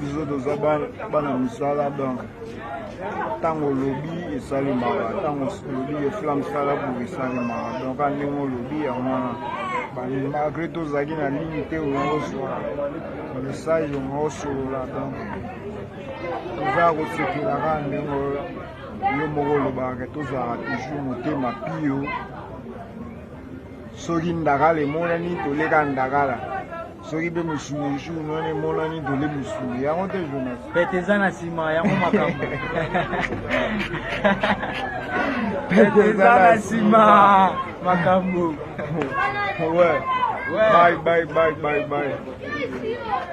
biso toza bana misala donc ntango olobi esalemaka ntango olobi efla mosala boye esalemaka donc a ndenge olobi yango wana malgré tozalaki na ligne te oyooswa message oyoosolola donc toza ya kosepela kaka ndenge oyo yo moko olobaka tozalaka toujours motema pio soki ndakala emonani toleka ndakala soki mpe mosuni jour wana emonani dole mosuni yango te jonas pete eza na nsima yango makambo pete eza na nsima makambo ouais. ouais. bye bye bye bye bye